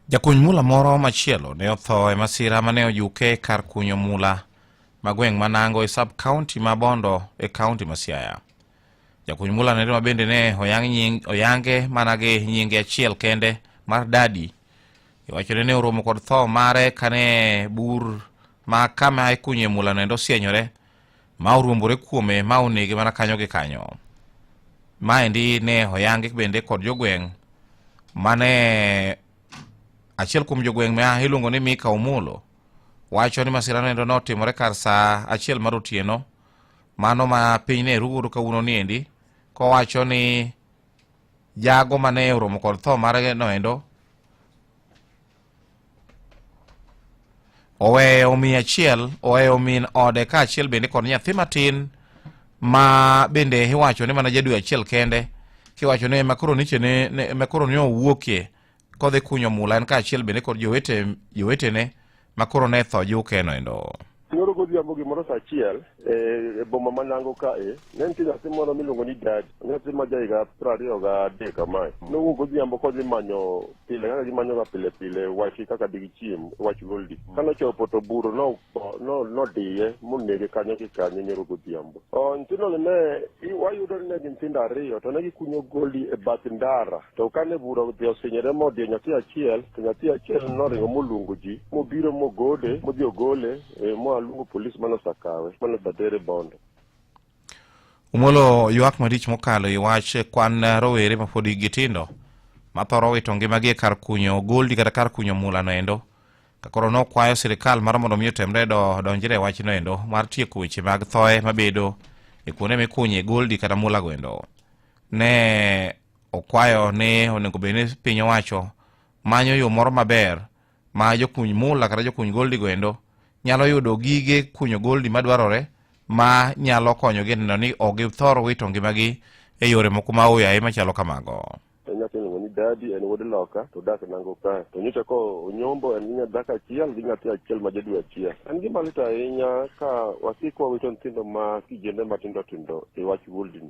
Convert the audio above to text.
Jakuny mula moro machielo ne otho e masira mane ojuke kar kunyo mula ma gweng' ma Nango e sub county ma Bondo e county ma Siaya. Jakuny mula nere ma bende ne oyang nying, oyange mana gi nyinge achiel kende mar Dadi. Iwachore ne oromo kod tho mare kane bur ma kama ikunye mula nendo osienyore ma oruombore kuome ma onege mana kanyo gi kanyo maendi ne oyangi bende kod jogweng' mane achiel kuom jogweng' ma iluongo ni mika omolo wacho ni masira noendo notimore kar saa achiel mar otieno mano ma piny ne rugodo kawuono ni endi kowacho ni jago mane oromo kod tho mare noendo oweyo min achiel oweyo min ode ka achiel bende kod nyathi matin ma bende iwacho ni mana jadwe achiel kende kiwacho ni makoro niche ne makoro ne owuokie kodhi kunyo mula en ka achiel bende kod jowete jowetene makoro ne tho jukeno endo Nyoro godhiambo gimoro sa achiel e, e boma ma Nango ka e, ne nitie nyathi moro miluongo ni Dadi, nyathi ma jahiga piero ariyo ga adek kamae. Nowuok godhiambo kodhi manyo pile kaka gimanyoga pile pile wach kaka digichiem wach goldi. Mm. Kane ochopo to buro no, no, nodiye monege kanyo gi kanyo nyoro godhiambo. Nyithindo ne wayudo ni ne gin nyithindo ariyo to ne gikunyo goldi e bath ndara To kane bura odhi osinyore modhiyo nyathi achiel, to nyathi achiel noringo moluongo ji, mobiro mogode, modhi ogole, e, moa luongo polis mane osakawe, mane osatere bondo. Omolo ywak malich mokalo i wach kwan rowere ma pod hikgi tindo ma thoro wito ngimagi e kar kunyo goldi kata kar kunyo mulano endo ka koro nokwayo sirikal mar mondo mi otemre do donjre e wachno endo mar tieko weche mag thoye mabedo e kuonde mikunye goldi kata mulago endo ne Okwayo ni onego bed ni piny owacho manyo yo moro maber ma jokuny mula kata jokuny goldi goendo nyalo yudo gige kunyo goldi madwarore ma nyalo konyogi e neno ni ok githor wito ngimagi e yore moko ma oyaye machalo kamago. en nyathi iluongo ni dadi en wuod loka to dak nango kae to nyocha ka onyombo en gi nyadhako achiel gi nyathi achiel ma jadwe achiel en gima lit ahinya ka wasik wawito nyithindo ma kijende matindo tindo e wach wuldni